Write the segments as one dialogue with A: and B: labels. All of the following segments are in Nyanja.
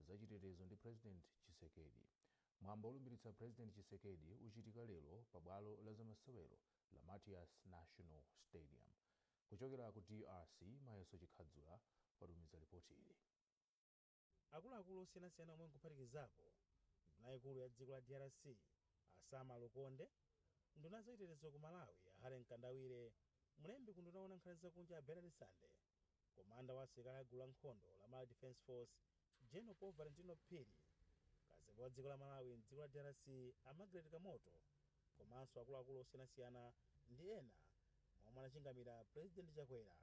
A: za chitetezo ndi President Tshisekedi. Mwambo olumbilitsa President Tshisekedi uchitika lero pa bwalo la zamasewero la Martyrs National Stadium. Kuchokera ku drc, Mayeso Chikhadzula watumiza lipotili. Akuluakulu osiyanasiyana omwe nkuphatikizapo nduna yaikulu ya dziko la drc a Sama Lukonde, nduna ya zachitetezo ku Malawi a Harry Mkandawire, mlembi ku unduna woona nkhani zakunja a Bernard Sande, Komanda wa asilikali a gulu la nkhondo la Malawi Defence Force General Paul Valentino Phiri, kazembe wa dziko la Malawi m'dziko la drc a Margaret Kamoto komanso akuluakulu osiyanasiyana ndi ena mwa omwe anachingamira President Chakwera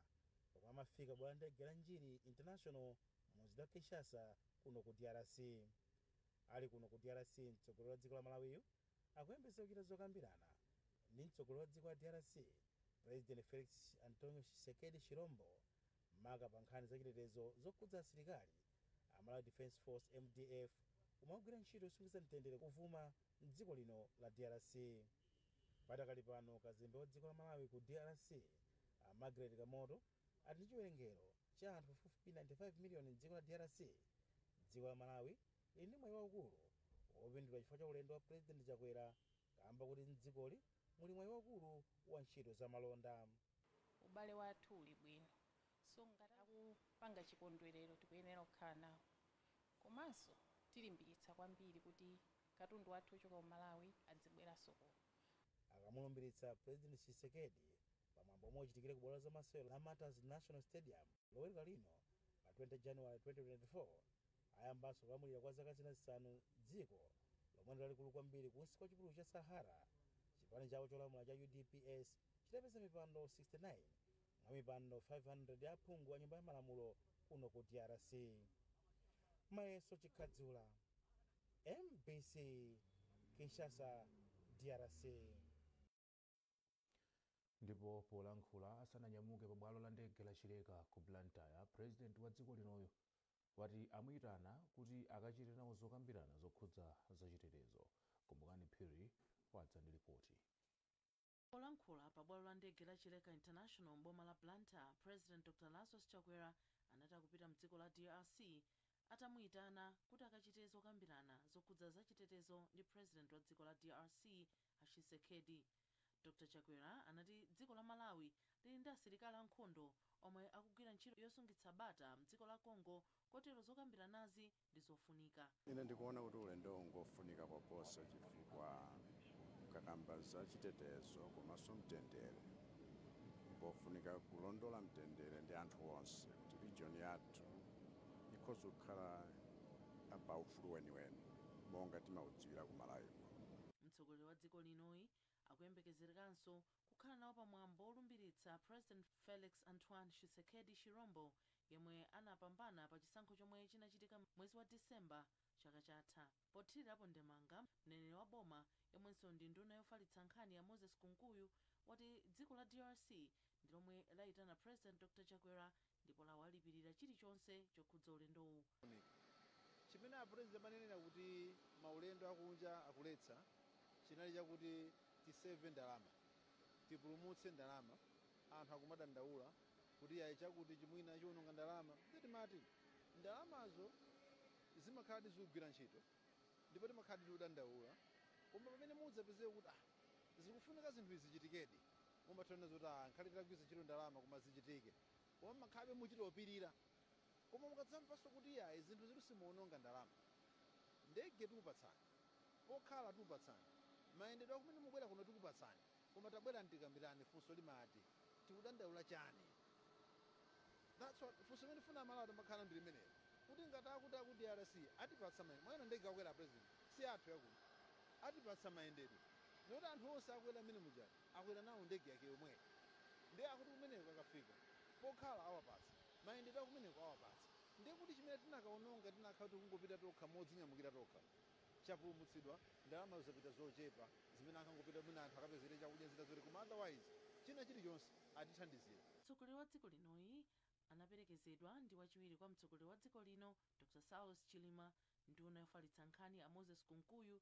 A: pomwe amafika bwalo la ndege la N'djili International mu mzinda wa Kinshasa kuno ku drc. Ali kuno ku drc mtsogoleri wa dziko la Malawiyu akuyembeza kuchita zokambirana ndi mtsogoleri wa dziko la drc President Felix Antonio Tshisekedi Tshilombo maka pa nkhani zachitetezo zokhudza asilikali a Malawi Defence Force, mdf, omwe akugwira ntchito yosungiza mtendere kuvuma m'dziko lino la drc. Padakali pano kazembe wa dziko la Malawi ku drc a Margaret Kamoto, ati ndi chiwerengero cha anthu pafupifupi 95 miliyoni m'dziko la drc, dziko la Malawi lili ndi mwayi waukulu wopindula chifukwa cha ulendo wa Pulezidenti Chakwera kaamba koti m'dzikoli muli mwayi waukulu wa ntchito za malonda. Ubale wathu uli bwino so ngati akupanga chikondwelero tikuyenera kukhala nawo komanso tilimbikitsa kwambiri kuti katundu wathu ochoka ku Malawi adzibweranso kuno. Akamulumbilitsa Pulezidenti Tshisekedi pa mwambo omwe uchitikire ku bwalo la zamasewero la Martyrs National Stadium loweruka lino pa 20 January 2024 ayambanso kulamulira kwa zaka zina zisanu dziko lomwe ndi lalikulu kwambiri kunsi kwa chipululu cha Sahara chipani chawo cholamula cha UDPS chitapeza mipando 69 mwa mipando 500 ya aphungu a nyumba ya malamulo kuno ku DRC Mayeso Chikhadzula MBC Kinshasa DRC Ndipo polankhula asananyamuke pa bwalo la ndege la Chileka ku Blantyre, President wa dziko linoyu wati amuitana kuti akachite nawo zokambirana zokhudza za chitetezo. Kumbukani Phiri wadza ndi lipoti. Polankhula pa bwalo la ndege la Chileka International m'boma la Blantyre, President Dr Lazarus Chakwera anati akupita mdziko la drc atamuitana kuti akachite zokambirana zokhudza za chitetezo ndi President wa dziko la drc, A Tshisekedi. Dr Chakwera anati dziko la Malawi lili ndi asilikali a nkhondo omwe akugwira ntchito yosungitsa bata mdziko la Congo kotero zokambiranazi ndi zofunika. Ine ndikuona kuti ulendowu ngofunika koposa chifukwa mukakamba za chitetezo komanso mtendere, mpofunika kulondola mtendere ndi anthu onse kuti region yathu ikhoza kukhala pa ufulu weniweni monga timaudziwira ku Malawi kuno. Mtsogoleri wa dziko linoyi akuyembekezerekanso kukhala nawo pa mwambo wolumbiritsa President Felix Antoine Tshisekedi Tshirombo yemwe anapambana pa chisankho chomwe chinachitika mwezi wa December chaka chatha. Pothirirapo ndemanga, mneneri wa boma yemwenso ndi nduna yofalitsa nkhani a Moses Kunkuyu wati dziko la drc ndi lomwe layitana President Dr Chakwera ndipo lawalipirira chilichonse chokhudza ulendowu. Chimene a president amanenera kuti maulendo akunja akuletsa chinali chakuti tiseve ndalama, tipulumutse ndalama, anthu akumadandaula kuti yayi chakutichi mwina chiwononga ndalama ndiye timati ndalamazo zimakhaladi zikugwira ntchito ndipo timakhaladi tikudandaula koma pamene muzipezeka kuti aah zikufunika zinthu izi zichitikedi, Mumatha kunena zoti aah nkhani titagwiritsa ntchito ndalama koma zichitike koma mmakhalabe muchita opirira koma mukadzamvanso kuti iyayi zinthuzitu simuononga ndalama ndege tikupatsani, pokhala tikupatsani, mayendedwe akumene mukubwera kuno tikupatsani koma tabwerani tikambirane funso limati tikudandaula chani ndiye funso limene tifuna amalawi tidzikhala nalo ndi limenelo kuti ngati akuti aku drc atipatsa mayendedwe mwayona ndege akukwera a president siyathu yakuno atipatsa mayendedwe ndiyoti anthu onse akukwera mmene muja akwera nawo ndege yake yomweyo nde akuti kumeneko akafika pokhala awapatsa, mayendedwe akumeneko awapatsa nde kuti chimene tikanaononga tikanakhala kuti tikungopita tokha modzinyamukira tokha chapulumutsidwa, ndalamazo zapita zochepa zimene ankangopita mwina anthu akapezere chakudya zina zoti koma otherwise china chilichonse atithandizira. Mtsogoleri wa dziko linoyi anaperekezedwa ndi wachiwiri kwa mtsogoleri wa dziko lino Dr Saulos Chilima, nduna yofalitsa nkhani a Moses Kunkuyu,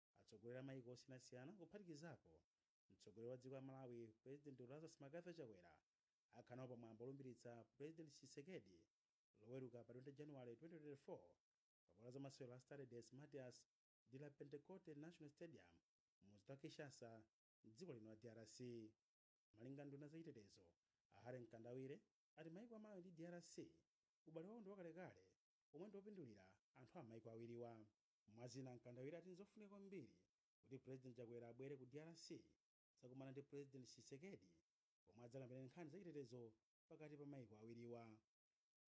A: Atsogoleri a maiko osiyanasiyana kuphatikizapo mtsogoleri wa dziko la Malawi Pulezidenti Lazarus McCarthy Chakwera akhala nawo pa mwambo olumbiritsa Pulezidenti Tshisekedi loweruka pa 20 January 2024 pa bwalo la zamasewero la Stade des Martyrs de la Pentecote National Stadium mumzinda wa Kinshasa mdziko lino la drc. Malinga nduna za chitetezo a Harry Mkandawire ati maiko a Malawi ndi drc ubale wawo ndi wakalekale omwe ndi opindulira anthu a m'maiko awiriwa. Mwa zina Mkandawire ati nzofunika kwambiri kuti President Chakwera abwere ku drc kudzakumana ndi President Tshisekedi komwe adzakambirane nkhani za chitetezo pakati pa maiko awiriwa.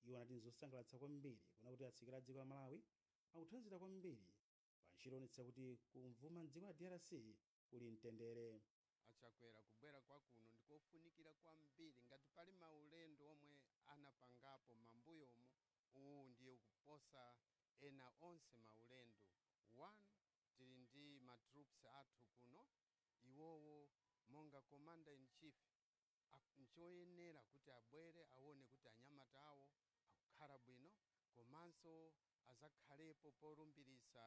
A: Iwo anati nzosangalatsa kwambiri kuona kuti asilikali a dziko la Malawi akuthandizira kwambiri pa ntchito yoonetsetsa kuti kummawa m'dziko la drc kuli mtendere. A Chakwera kubwera kwa kuno ndikofunikira kwambiri ngati pali maulendo omwe anapangapo mambuyomu uwu ndiye ukuposa ena onse maulendo one tili ndi ma troops athu kuno iwowo monga commander in chief ak nchoyenera kuti abwere awone kuti anyamata awo akukhala bwino komanso azakhalepo polumbirisa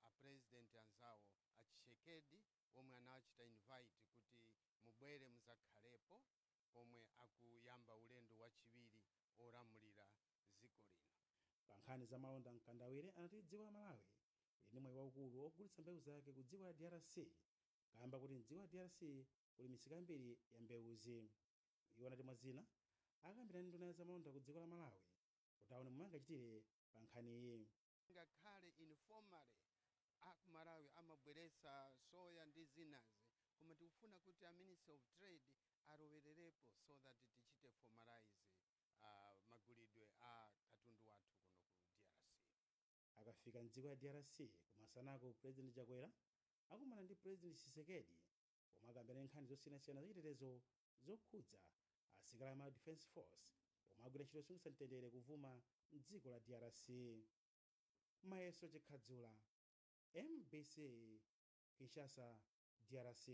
A: a president anzawo a Tshisekedi omwe anachita invite kuti mubwere muzakhalepo pomwe akuyamba ulendo wachiwiri wolamulira dziko lino. Pa nkhani za malonda Mkandawire anati dziko la Malawi lili ndi mwayi waukulu wogulitsa mbewu zake ku dziko la drc kaamba kuti mdziko la drc kuli misika yambiri ya mbewuzi. Iwo anati mwa zina akakambirana ndi nduna ya za malonda ku dziko la Malawi kuti aone momwe angachitire pa nkhaniyi. ngakhale informally akumalawi amabweretsa soya ndi zinazi koma tikufuna kuti a ministry of trade alowererepo so that tichite formalise magulidwe a katundu wathu kuno ku drc. Akafika m'dziko ya drc kumasanaku President Chakwera akumana ndi President Tshisekedi pomwe akambirane nkhani zosiyanasiyana zachitetezo zokhudza asilikali a Malawi Defense Force omwe akugwira ntchito yosungitsa mtendere kumvuma m'dziko la drc. Mayeso Chikhadzula, mbc, Kinshasa, drc.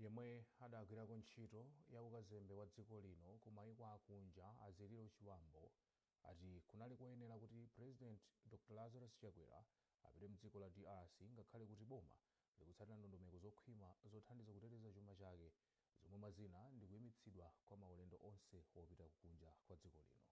A: Yemwe adagwirako ntchito ya ukazembe wa dziko lino ku maiko akunja a Ziliro Chibambo ati kunali koyenera kuti President Dr Lazarus Chakwera apite mdziko la drc ngakhale kuti boma likutsatira ndondomeko zokhwima zothandiza kuteteza chuma chake zomwe mwa zina ndi kuimitsidwa kwa maulendo onse wopita ku kunja kwa dziko lino.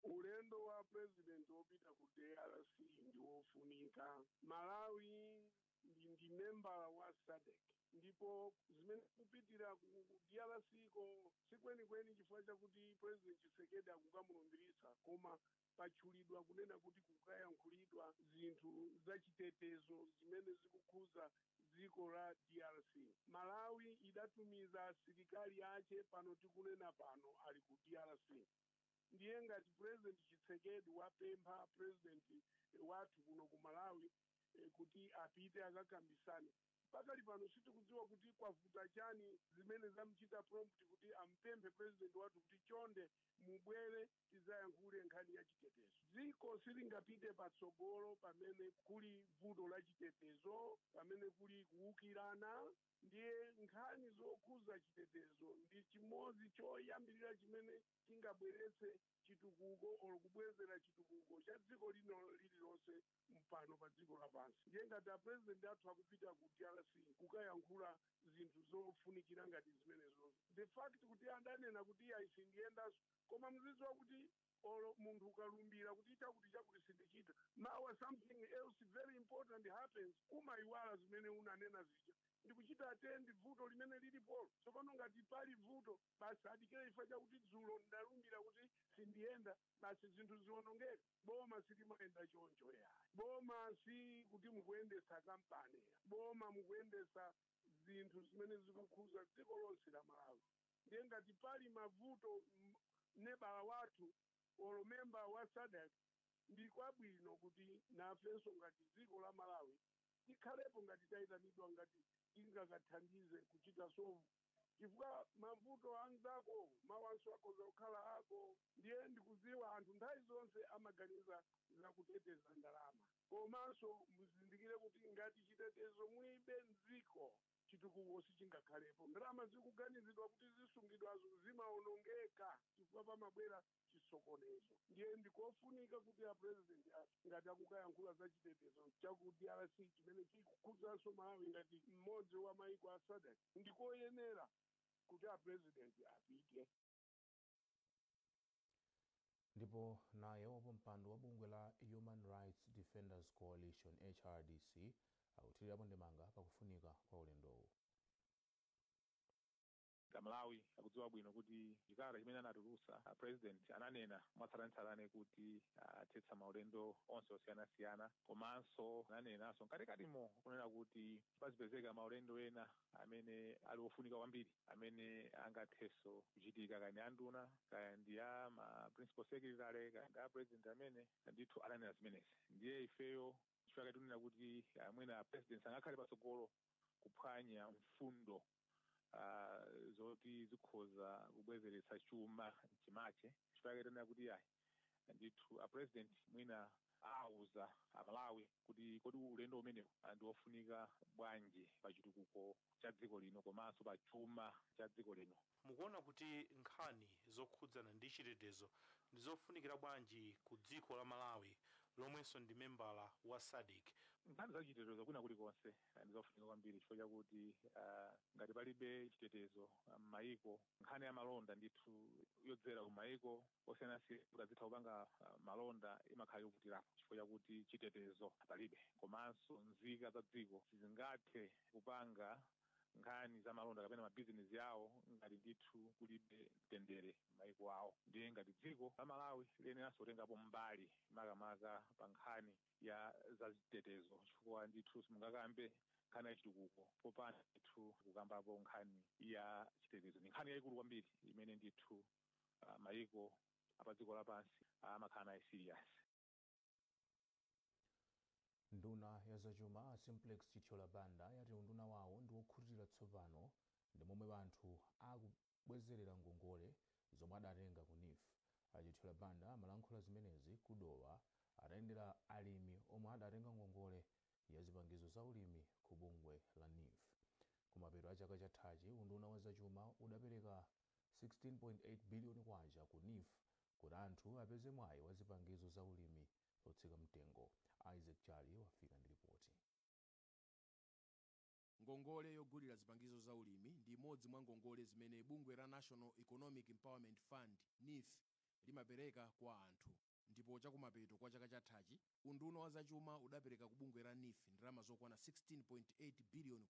A: Ulendo wa President wopita ku drc ndi wofunika. Malawi. ndi, ndi membala wa SADC ndipo zimene kupitira ku ku drc ko sikwenikweni chifukwa chakuti president Tshisekedi akukamulumbiritsa koma patchulidwa kunena kuti kukayankhulidwa zinthu zachitetezo zimene zikukhudza dziko la drc malawi idatumiza asilikali ache pano tikunena pano ali ku drc ndiye ngati president Tshisekedi wapempha president wathu kuno ku malawi eh, kuti apite akakambirane pakali pano sitikudziwa kuti kwavuta chani zimene zamchita prompt kuti ampemphe president wathu kuti chonde mubwere tidzayankhule nkhani ya chitetezo dziko silingapite patsogolo pamene kuli vuto la chitetezo pamene kuli kuwukirana ndiye nkhani zokhuza chitetezo ndi chimodzi choyambirira chimene chingabweretse chitukuko or kubwezera chitukuko cha dziko lino lililonse pano pa dziko lapansi ndiye ngati apurezidenti athu akupita ku drc kukayankhula zinthu zofunikira ngati zimenezozo the fact kuti adanena kuti iye ayi sindiyendanso koma muzidziwa kuti or munthu ukalumbira kuti chakuti chakuti sindichita mawa something else very important happens umayiwala zimene unanena zija ndikuchita attend vuto limene lilipo tsopano ngati pali vuto basi adikire chifukwa chakuti dzulo ndalumbira kuti sindiyenda basi zinthu zionongeke boma silimayenda choncho ayi boma si kuti mukuyendetsa kampani ayi boma mukuyendetsa zinthu zimene zikukhuza dziko lonse la malawi ndiye ngati pali mavuto m- nebala wathu olo memba wa sadc ndi kwabwino kuti nafenso ngati dziko la malawi tikhalepo ngati tayitanidwa ngati tingakathandize kuchita solve chifukwa mavuto a mzako mawanso akhoza kukhala ako ndiye ndikuziwa anthu nthawi zonse amaganiza za kuteteza ndalama komanso muzindikire kuti ngati chitetezo mulibe mziko chitukuko sichingakhalepo ndalama zikuganizidwa kuti zisungidwazo zimaonongeka chifukwa pamabwera chisokonezo ndiye ndikofunika kuti a president athu ngati akukayankhula za chitetezo cha ku drc chimene chikukhudzanso malawi ngati mmodzi wa maiko a sadc ndikoyenera kuti a president apite ndipo naye wapampando wa bungwe la human rights defenders coalition hrdc akuthirirapo ndemanga pakufunika kwa ulendowu Amalawi akudziwa bwino kuti chikalata chimene anatulutsa a president ananena mwatsatanetsatane kuti athetsa maulendo onse osiyanasiyana komanso ananenanso mkatikatimo kunena kuti pazipezeka maulendo ena amene ali ofunika kwambiri amene angathenso kuchitika kaya ndi a nduna kaya ndi a ma principal secretary kaya ndi a president amene ndithu ananena zimenezi ndiye ifeyo chifukwa chake tikunena kuti ah, mwina president sangakhale patsogolo kuphwanya mfundo ah, zoti zikhoza kubwezeretsa chuma mchimache chifukwa chake tinena kuti ayi ndithu a president mwina auze amalawi kuti kodi ulendo umenewu ah, ndi wofunika bwanji pa chitukuko cha dziko lino komanso pa chuma cha dziko lino mukuona kuti nkhani zokhudzana ndi chitetezo ndi zofunikira bwanji ku dziko la malawi lomwenso ndi membala wa sadc nkhani za chitetezo kwina kulikonse eh, ndi zofunika kwambiri chifukwa chakuti ah, ngati palibe chitetezo ah, m'mayiko nkhani ya malonda ndithu yodzera ku mayiko osiyanasiyana kuti azitha kupanga ah, malonda imakhala yovutirapo chifukwa chakuti chitetezo palibe komanso nzika za dziko sizingathe kupanga nkhani za malonda kapena mabizinesi awo ngati ndithu kulibe mtendere m'mayiko awo ndiye ngati dziko la malawi liyeneranso kutengapo mbali makamaka pa nkhani ya zazitetezo chifukwa ndithu simungakambe nkhani ya chitukuko popanda ndithu kukambapo nkhani ya chitetezo ndi nkhani yayikulu kwambiri imene ndithu uh, mayiko apa dziko lapansi amakhala nayo serious nduna ya zachuma a simplex chithyola banda yati unduna wawo ndi wokhutira tsopano ndi momwe anthu aku kubwezerera ngongole zomwe adatenga ku neef. A Chithyola Banda amalankhula zimenezi ku Dowa atayendera alimi omwe adatenga ngongole ya zipangizo za ulimi ku bungwe la neef. Kumapeto a chaka chathachi, unduna wa zachuma udapereka K16.8 biliyoni ku neef kuti anthu apeze mwayi wa zipangizo za ulimi zotsika mtengo. Isaac Jali wafika ndi lipoti. Ngongole yogulira zipangizo za ulimi ndi imodzi mwa ngongole zimene bungwe la National Economic Empowerment Fund, Neef, limapereka kwa anthu. Ndipo chakumapeto kwa chaka chathachi, unduna wa zachuma udapereka ku bungwe la Neef ndalama zokwana K16.8 biliyoni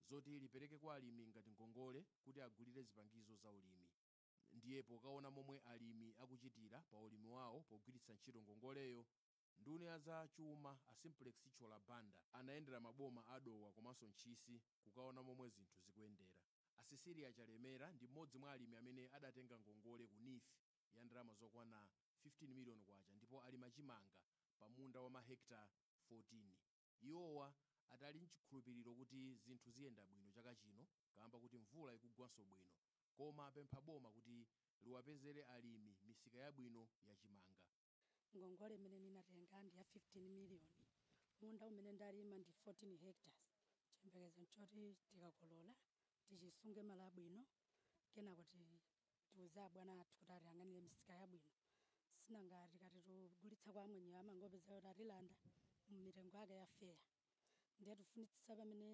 A: zoti lipereke kwa alimi ngati ngongole kuti agulire zipangizo za ulimi. Ndiye pokaona momwe alimi akuchitira pa ulimi wawo pogwiritsa ntchito ngongoleyo, Nduna ya za chuma a Simplex Chithyola Banda anayendera maboma a Dowa komanso Ntchisi kukaona momwe zinthu zikuyendera. A Cecilia Chalemera ndi m'modzi mwa alimi amene adatenga ngongole ku neef ya ndalama zokwana K15 million ndipo alima chimanga pa munda wa ma hectare 14. Iwowa ati ali n'chikhulupiriro kuti zinthu ziyenda bwino chaka chino kaamba kuti mvula ikugwanso bwino koma apempha boma kuti liwapezere alimi misika yabwino ya chimanga. Ngongole imene ndinatenga ndi ya 15 miliyoni. Munda umene ndalima ndi 14 hectares. Chiyembekezo n'choti tikakolola tichisunge malo abwino kenako tiuze mabwana athu kuti atiyang'anire misika yabwino. Si nanga tikati tigulitsa kwa mavendawa amangopezeka kuti atilanda mitengo yake ya fair. Ndiye tikufunitsitsa pamene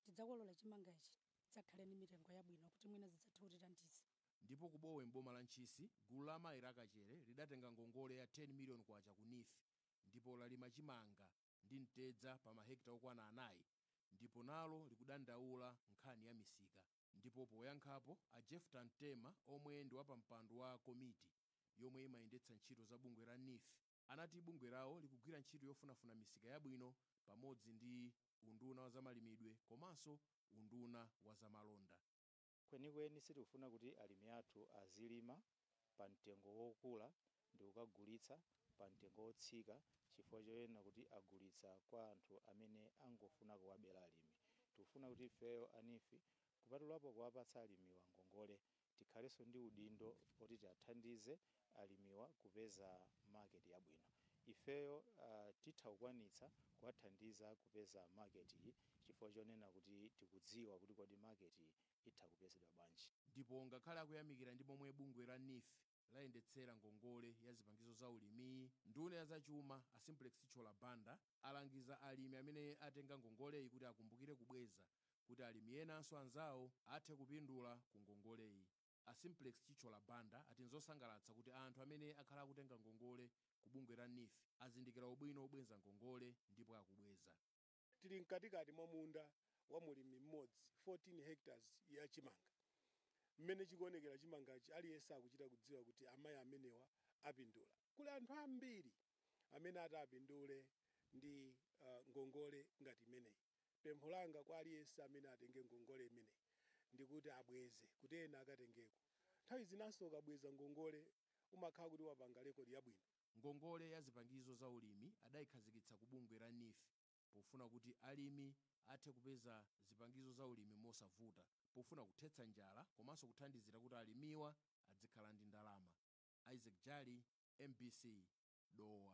A: tidzakolola chimanga ichi tidzakhale ndi mitengo yabwino kuti mwina zidzathe kutithandiza. ndipo ku Bowe m'boma la Ntchisi gulu la amayi la Kachere lidatenga ngongole ya K10 million ku neef ndipo lalima chimanga ndi mtedza pa mahekitala okwana anayi ndipo nalo likudandaula nkhani ya misika. Ndipo poyankhapo, a Jephta Mtema omwe ndi wapampando wa komiti yomwe imayendetsa ntchito za bungwe la neef anati bungwe lawo likugwira ntchito yofunafuna misika yabwino pamodzi ndi unduna wa zamalimidwe komanso unduna wa zamalonda. Kwenikweni sitikufuna kuti alimi athu azilima pa mtengo wokula ndikukagulitsa pa mtengo wotsika chifukwa chonena kuti agulitsa kwa anthu amene angofuna kuwabera alimi. Tikufuna kuti ifeyo a NEEF kupatulapo kuwapatsa alimiwa ngongole, tikhalenso ndi udindo oti tiathandize alimiwa kupeza market yabwino ifeyo titha kukwanitsa kuwathandiza kupeza market yi chifukwa chonena kuti tikudziwa kuti kodi market yi itha kupezedwa bwanji. Ndipo ngakhale akuyamikira ndi momwe bungwe la neef layendetsera ngongole ya zipangizo za ulimiyi, nduna ya zachuma a Simplex Chithyola Banda alangiza alimi amene atenga ngongoleyi kuti akumbukire kubweza kuti alimi enanso anzawo athe kupindula ku ngongoleyi. A Simplex Chithyola Banda ati nzosangalatsa kuti anthu amene akhala akutenga ngongole ku bungwe la neef azindikira ubwino wobweza ngongole ndipo akubweza. Tili mkatikati mwa munda wa mlimi mmodzi, 14 hectares, ya chimanga. Mmene chikuonekera chimangachi aliyense akuchita kudziwa kuti amayi amenewa apindula. Kuli anthu ambiri amene ati apindule ndi ngongole ngati imeneyi. Pempho langa kwa aliyense amene atenge ngongole imeneyi ndi kuti abweze kuti ena akatengeko. Nthawi zinanso ukabweza ngongole umakhala kuti wapanga lekodi yabwino. Ngongole ya zipangizo za ulimi adaikhazikitsa ku bungwe la neef pofuna kuti alimi athe kupeza zipangizo za ulimi mosavuta pofuna kuthetsa njala komanso kuthandizira kuti alimiwa adzikhala ndi ndalama. Isaac Jali, mbc, Dowa.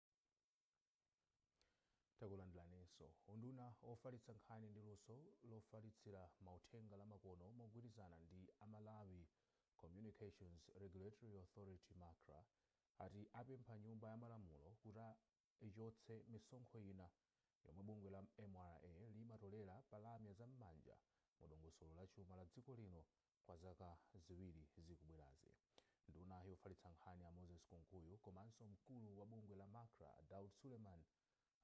A: Takulandilaninso. Unduna ofalitsa nkhani ndi luso lofalitsira mauthenga la makono mogwirizana ndi a Malawi Communications Regulatory Authority, Macra, ati apempha nyumba ya malamulo kuti ichotse misonkho ina yomwe bungwe la mra limatolera pa lamya za m'manja mu dongosolo la chuma la dziko lino Kwa zaka ziwiri zikubwerazi, nduna yofalitsa nkhani a Moses Kunkuyu komanso mkulu wa bungwe la Macra a Daud Suleman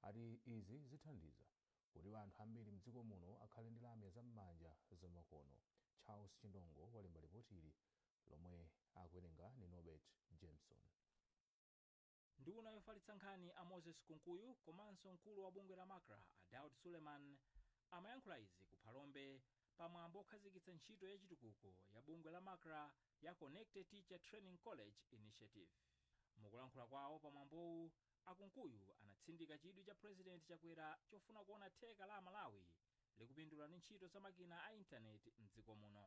A: ati izi zithandiza kuti anthu ambiri mdziko muno akhale ndi lamya za m'manja za makono. Charles Chindongo walemba lipotili lomwe akuwerenga ndi Norbert Jameson. Nduna yofalitsa nkhani a Moses Kunkuyu komanso mkulu wa bungwe la Macra a Daud Suleman amayankhula izi ku Phalombe pa mwambo okhazikitsa ntchito ya chitukuko ya bungwe la Macra ya Connected Teacher Training College Initiative. Mukulankhula kwawo pa mwambowu, a Kunkuyu anatsindika chidwi cha President Chakwera chofuna kuona theka la a Malawi likupindula ndi ntchito za makina a internet m'dziko muno.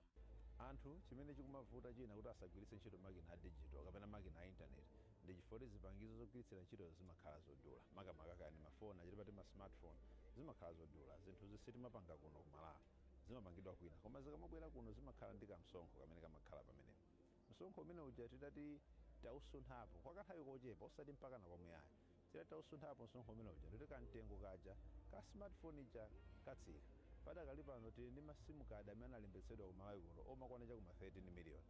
A: Anthu chimene chikumavuta china kuti asagwiritse ntchito makina a digital kapena makina a internet ndi chifukwa choti zipangizo zogwiritsira ntchitozo zimakhala zodula, makamaka kaya ndi mafoni aja timati ma smartphone, zimakhala zodula. Zinthuzi sitimapanga kuno ku Malawi, zimapangidwa kwina. Koma zikamabwera kuno zimakhala ndi kamsonkho kamene kamakhala pamenepo. Msonkho umene uja titati tausunthapo, kwa kanthawi kochepa osati mpakana kwamuyaya. Titati tausunthapo msonkho umene uja ndiye kuti kamtengo kaja ka smart phone ija katsika. Padakali pano tili ndi ma sim card amene analembetsedwa ku Malawi kuno omwe akukwana cha ku ma 13 million.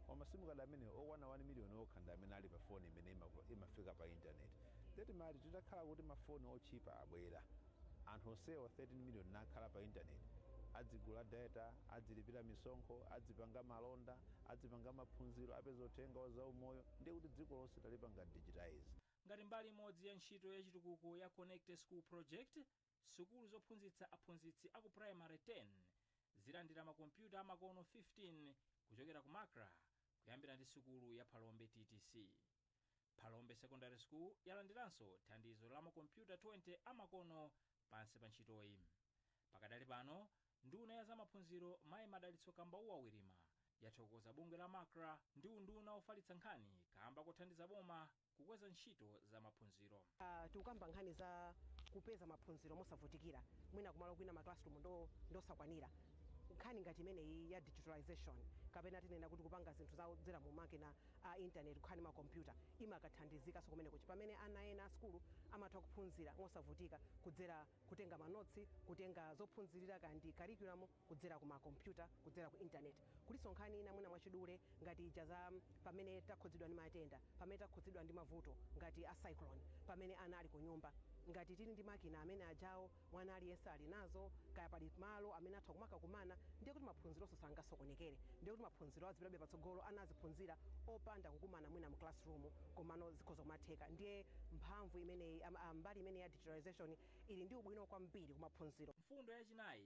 A: Koma ma sim card amenewa okwana 1 million okha ndi amene ali pa phone imene imafika pa internet. Ndiye timati titakhala kuti ma phone otchipa abwera, anthu onsewa 13 million nakhala pa internet, adzigula data, adzilipira misonkho, adzipanga malonda, adzipanga maphunziro, apeza uthenga wa zaumoyo, ndiye kuti dziko lonse talipanga digitize. ngati mbali imodzi ya ntchito ya chitukuko ya Connected School Project, sukulu zophunzitsa aphunzitsi a ku primary 10 zilandira makompyuta amakono 15 kuchokera ku Macra kuyambira ndi sukulu ya Phalombe ttc. Phalombe Secondary School yalandiranso thandizo la makompyuta 20 amakono pansi pa ntchitoyi. Pakadali pano, nduna ya zamaphunziro mayi Madalitso Kambauwa Wirima yathokoza bungwe la Macra ndi unduna wofalitsa nkhani kaamba kothandiza boma Kukweza ntchito za maphunziro. Tikukamba nkhani za kupeza maphunziro mosavutikira, mwina kumalo kwina ma classroom ndosakwanira, nkhani ngati imeneyi ya digitalisation kapena tinena kuti kupanga zinthu za kudzera mu makina a internet kukhala ndi ma computer imakathandizikanso kumeneko kuti pamene ana ena a sukulu amatha kuphunzira mosavutika kudzera kutenga ma notes, kutenga zophunzirira kaya ndi curriculum. kudzera ku ma kompyuta, kudzera ku internet, kulinso nkhani ina mwina mwachidule ngati ija za pamene takhudzidwa ndi matenda, pamene takhudzidwa ndi mavuto ngati a cyclone, pamene ana ali kunyumba, ngati tili ndi makina amene ajawo mwana aliyense ali nazo, kaya pali malo amene atha kumakakumana, ndiye kuti maphunzironso sangasokonekere, ndiye kuti maphunziro azipitabe patsogolo, ana aziphunzira opanda kukumana mwina mu classroom, komano zikhoza kumatheka, ndiye mphamvu imeneyi, mbali imeneyi ya digitalisation ili ndi ubwino kwambiri ku maphunziro. Mfundo yachinayi,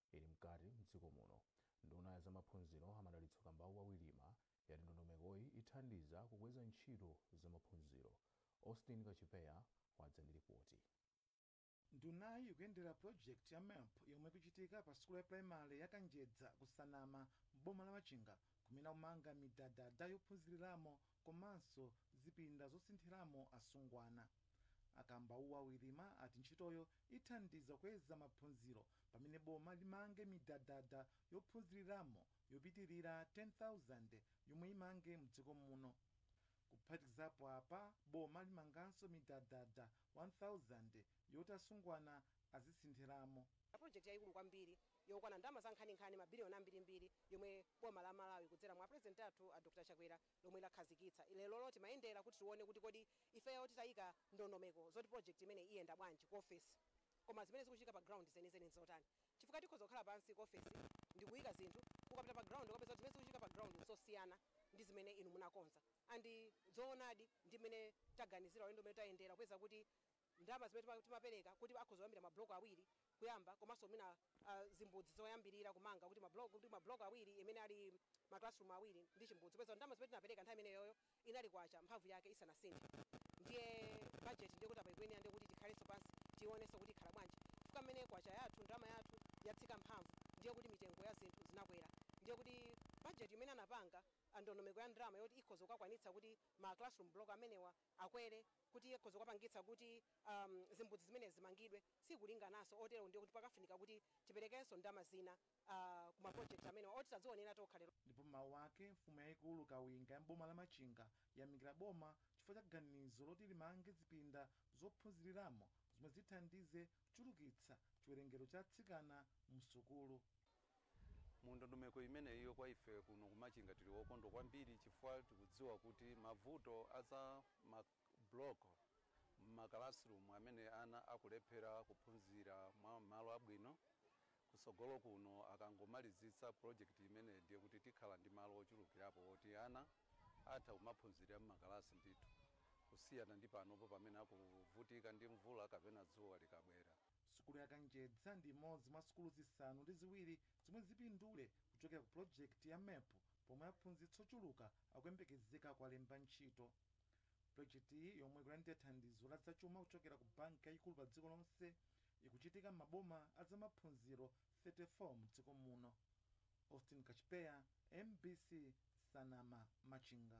A: ili mkati m'dziko muno. Nduna ya zamaphunziro a Madalitso Kambauwa Wirima yati ndondomekoyi ithandiza kukweza ntchito za maphunziro. Austin Kachipeya wadza ndi lipoti. Ndunayi ikuyendera project ya MEP yomwe ikuchitika pa sukulu ya primary ya Kanjedza ku Nsanama m'boma la Machinga kumene akumanga midadada yophunziliramo komanso zipinda zosinthiramo asungwana. A Kambauwa Wirima ati ntchitoyo ithandiza kukweza maphunziro pamene boma limange midadada yophunziliramo yopitilira 10,000 yomwe imange mdziko muno. Kuphatikizapo apa, boma limanganso midadada 1,000 yoti asungwana azisinthiramo. Pulojekiti yayikulu kwambiri yokwana ndalama za nkhaninkhani mabiliyoni ambirimbiri yomwe boma la Malawi kudzera mwa apulezidenti athu a Dr Chakwera lomwe lakhazikitsa. Lerolo timayendera kuti tione kuti kodi ifeyo titayika ndondomeko zoti project imeneyi iyenda bwanji ku ofesi koma zimene zikuchitika pa ground zenizeni nzotani chifukwa tikhoza kukhala pansi ku ofesi ndikuyika zinthu ukapita pa ground ukupeza kuti zimene zikuchitika pa ground nzosiyana ndi zimene inu munakonza and zoonadi ndi mmene taganizira ulendo umene tayendera kupeza kuti ndalama zimene timapereka kuti akhoza kuyambira ma block awiri kuyamba komanso mwina zimbudzi zoyambirira kumanga kuti ma block kuti ma block awiri amene ali ma classroom awiri ndi chimbudzi popeza ndalama zimene tinapereka nthawi imeneyoyo inali kwacha mphamvu yake isanasinthe ndiye budget ndiye kuti apa ikuyenera ndiye kuti tikhalenso pansi tionenso kuti ikhala bwanji chifukwa mmene kwacha yathu ndalama yathu yatsika mphamvu ndiye kuti mitengo ya zinthu zinakwera ndiye kuti budget imene anapanga andondomeko ya ndalama yoti ikhoza kukakwanitsa kuti ma classroom block amenewa akwere kuti akhoza kukapangitsa kuti zimbudzi zimenezi zimangidwe sikulingananso otero ndiye kuti pakufunika kuti tiperekenso ndalama zina ku ma project amenewa oti tadzionera tokha lero. Ndipo m'mawu ake, mfumu yaikulu Kawinga ya m'boma la Machinga yamikira boma chifukwa cha ganizo loti limange zipinda zophunziliramo zomwe zithandize kuchulukitsa chiwerengero cha atsikana mu sukulu. mu ndondomeko imeneyiyo kwa ife kuno ku Machinga tili okondwa kwambiri chifukwa tikudziwa kuti mavuto a za ma block mma classroom amene ana akulephera kuphunzira mwa malo abwino kutsogolo kuno akangomalizitsa project imeneyi ndiye kuti tikhala ndi malo ochulukirapo oti ana atha kumaphunzirira mma kalasi ndithu kusiyana ndi panopo pamene akuvutika ndi mvula kapena dzuwa likabwera. Sukulu ya Kanjedza ndi imodzi mwa sukulu zisanu ndi ziwiri zomwe zipindule kuchokera ku pulojekiti ya MERP pomwe aphunzitsi ochuluka akuyembekezeka kuwalemba ntchito. Pulojekitiyi yomwe ikulandira thandizo la zachuma kuchokera ku banki yayikulu pa dziko lonse ikuchitika m'maboma a za maphunziro 34 mdziko muno. Austin Kachipeya, MBC, Nsanama, Machinga.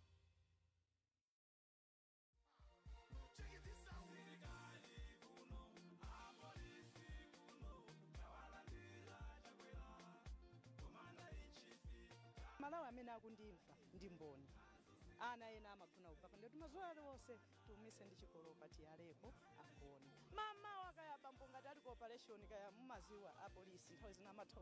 A: Malawi amene akundimva ndi mboni ana ena amagona kupapa ndikuti madzi aliwonse tiumise ndi chikolopa tiyaleko agone mamawa kaya bambo ngati ali ku operation kaya mumadziwa apolisi nthawi zina amatha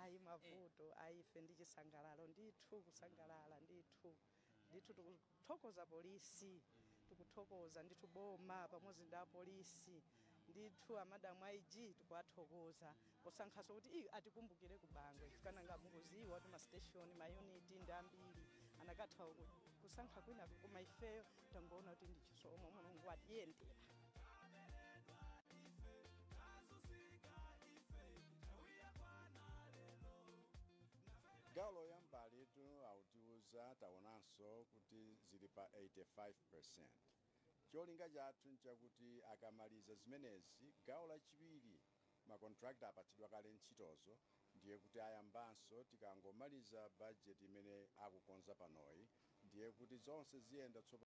A: ayi mavuto ayi ife ndi chisangalalo ndithu kusangalala ndithu ndithu tikuthokoza polisi tikuthokoza ndithu boma pamodzi ndi apolisi ndithu amadamu aig tikuwathokoza posankhaso kuti iwo atikumbukire ku bangwe chifukwa mukuziwa kuti masiteshoni mayuniti ndi ambiri anakatha ku- kusankha kwina koma ifeyo tangoona kuti ndi chisomo mulungu watiyendera gawo loyambalitu atiuza taonanso kuti zili pa 85 cholinga chathu nchakuti akamaliza zimenezi gawo lachiwiri makontrakta apatsidwa kale ntchitozo ndiye kuti ayambanso tikangomaliza bajeti imene akukonza panoyi ndiye kuti zonse ziyenda tsopano